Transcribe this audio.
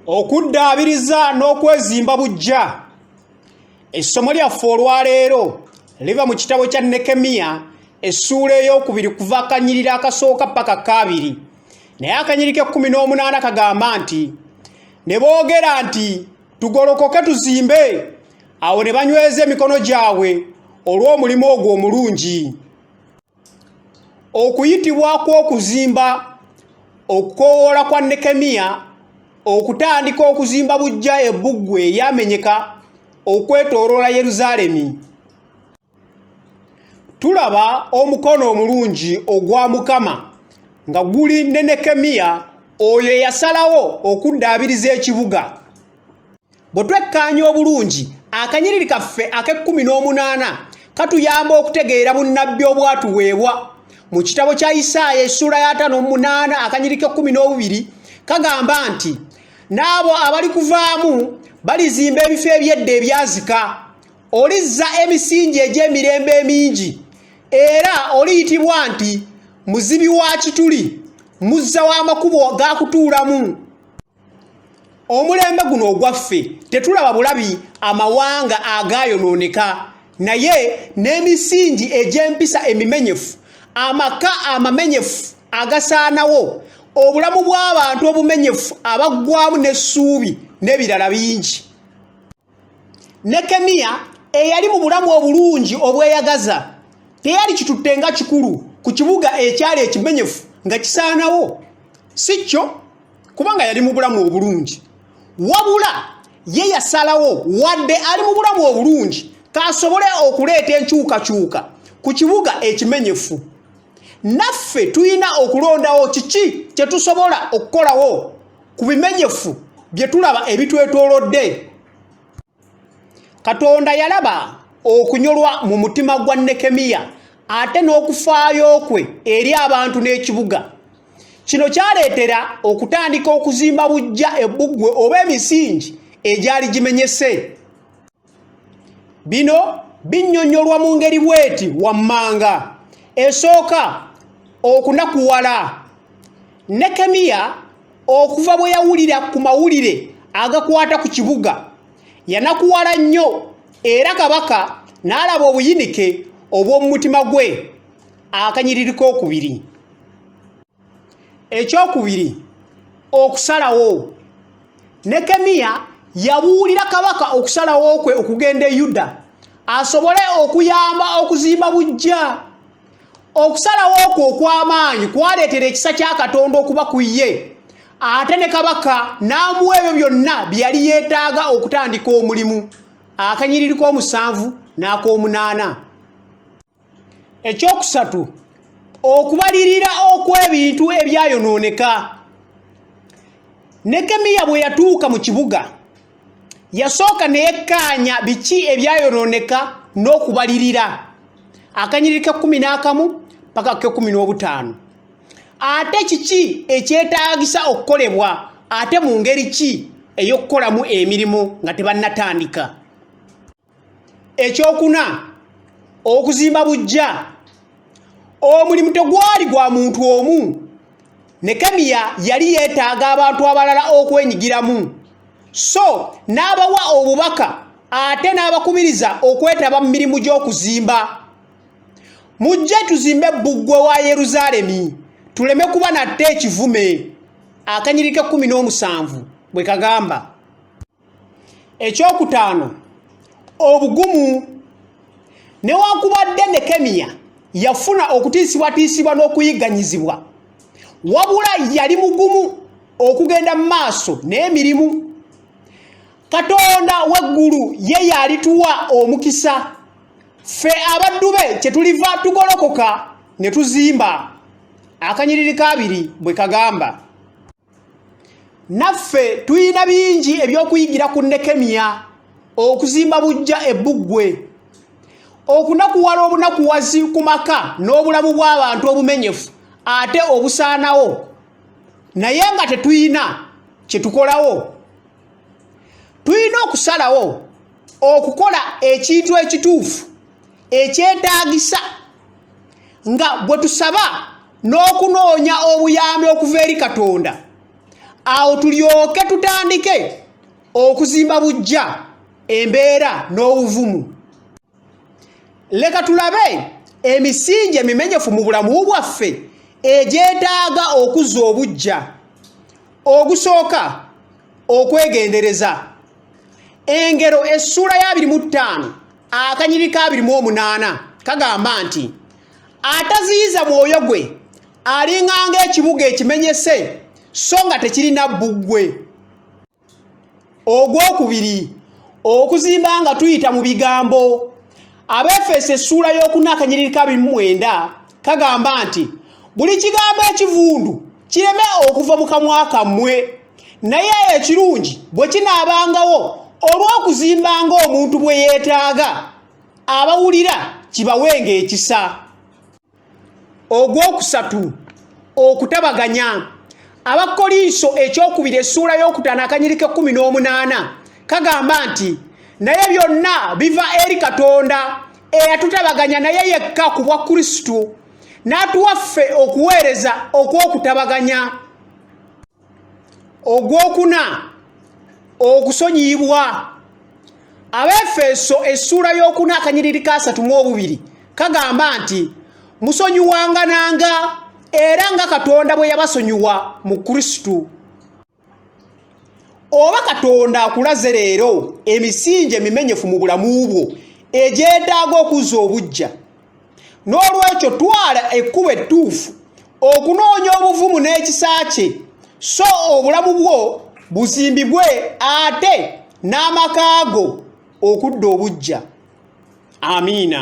okuddaabiriza n'okwezimba bujja essomo lyaffe olwaleero liva mu kitabo kya nekemiya essuula ey'okubiri kuva akanyirira akasooka paka kaabiri naye akanyiri k'ekkumi n'omunaana kagamba nti ne boogera nti tugolokoke tuzimbe awo ne banyweza emikono gyabwe olw'omulimu ogwo omulungi okuyitibwa kw'okuzimba okukoowoola kwa nekemiya okutandika okuzimba bujja ebbuggwe eryamenyeka okwetooloola yerusaalemi tulaba omukono omulungi ogwa mukama nga guli ne nekemiya oyo eyasalawo okuddaabiriza ekibuga Bwe twekkaanya obulungi, akanyiriri kaffe ak'ekkumi n'omunaana katuyamba okutegeera bunnabbi obwatuweebwa. Mu kitabo kya Isaaya essuula ya ataano omunaana akanyiriri k'ekkumi n'obubiri kagamba nti, N'abo abali kuvaamu balizimba ebifo eby'edda ebyazika, olizza emisingi egy'emirembe emingi, era oliyitibwa nti muzibi wa kituli, muzza w'amakubo ga kutuulamu. omulembe guno ogwaffe tetulaba bulabi amawanga agaayonooneka naye n'emisingi egy'empisa emimenyefu amaka amamenyefu agasaanawo obulamu bw'abantu obumenyefu abaggwamu n'essuubi n'ebirala bingi nekemiya eyali mu bulamu obulungi obweyagaza teyali kitutte nga kikulu ku kibuga ekyali ekimenyefu nga kisaanawo si kyo kubanga yali mu bulamu obulungi wabula ye yasalawo wadde ali mu bulamu obulungi kasobole okuleeta enkyukakyuka ku kibuga ekimenyefu naffe tulina okulondawo kiki kye tusobola okukolawo ku bimenyefu bye tulaba ebitwetoolodde katonda yalaba okunyolwa mu mutima gwa nekemiya ate n'okufaayo kwe eri abantu n'ekibuga kino kyaleetera okutandika okuzimba bujja ebbuggwe oba emisingi egyali gimenyese bino binnyonnyolwa mu ngeri bweti wammanga esooka okunakuwala nekemiya okuva bwe yawulira ku mawulire agakwata ku kibuga yanakuwala nnyo era kabaka n'alaba obuyinike obw'omu mutima gwe akanyiriri k'okubiri ekyokubiri okusalawo nekemiya yabuulira kabaka okusalawo kwe okugenda e yuda asobole okuyamba okuzimba bujja okusalawo okwo okw'amaanyi kwaleetera ekisa kya katonda okuba ku ye ate ne kabaka n'amuwa ebyo byonna bye yali yeetaaga okutandika omulimu akanyiriri k'omusanvu n'ak'omunaana ekyokusatu okubalirira okw'ebintu ebyayonooneka nekemiya bwe yatuuka mu kibuga yasooka neyekkaanya biki ebyayonooneka n'okubalirira akanyiriri kekumi n'akamu paka kekumi n'obutaano ate kiki ekyetaagisa okukolebwa ate mu ngeri ki ey'okukolamu emirimu nga tebannatandika ekyokuna okuzimba bujja omulimu tegwali gwa muntu omu nekemiya yali yeetaaga abantu abalala okwenyigiramu so n'abawa obubaka ate n'abakubiriza okwetaba mu mirimu gy'okuzimba mujje tuzimbe bbuggwe wa yerusaalemi tuleme kuba natte ekivume akanyiriko ekkumi n'omusanvu bwe kagamba ekyokutaano obugumu newankubadde nekemiya yafuna okutiisibwatiisibwa n'okuyigganyizibwa wabula yali mugumu okugenda mu maaso n'emirimu katonda w'eggulu ye yalituwa omukisa ffe abaddu be kye tuliva tugolokoka ne tuzimba akanyiriri kaabiri bwe kagamba naffe tulina bingi ebyokuyigira ku nekemiya okuzimba bujja ebbuggwe okunakuwala obunakuwazi ku maka n'obulamu bw'abantu obumenyefu ate obusaanawo naye nga tetulina kye tukolawo tulina okusalawo okukola ekintu ekituufu ekyetaagisa nga bwe tusaba n'okunoonya obuyambi okuva eri katonda awo tulyoke tutandike okuzimba bujja embeera n'obuvumu leka tulabe emisingi emimenyefu mu bulamu bwaffe egyetaaga okuzza obuggya ogusooka okwegendereza engero essuula ya 25 akanyiri ka 28 kagamba nti ataziyiza mwoyo gwe alinganga ekibuga ekimenyese so nga tekirina bbuggwe ogwokubiri okuzimba nga tuyita mu bigambo abeefeesa essuula y'okuna akanyiriri ka bimu mwenda kagamba nti buli kigambo ekivundu kireme okuva mu kamwa kammwe naye ekirungi bwe kinaabangawo olw'okuzimba ng'omuntu bwe yeetaaga abawulira kibawenga ekisa ogwokusatu okutabaganya abakkolinso ekyokubiri essuula y'okutaano akanyiriko ekkumi n'omunaana kagamba nti naye byonna biva eri katonda eyatutabaganya naye yekka ku bwa kristo n'atuwaffe okuweereza okw'okutabaganya ogwokuna okusonyiyibwa abaefeso essuula y'okuna akanyiriri kasatu mu obubiri kagamba nti musonyiwangananga era nga katonda bwe yabasonyiwa mu kristo oba katonda akulaze leero emisingi emimenyefu mu bulamu bwo egyetaaga okuzza obujja n'olwekyo twala ekkubo ettuufu okunoonya obuvumu n'ekisa kye so obulamu bwo buzimbibwe ate n'amaka go okudda obuggya amiina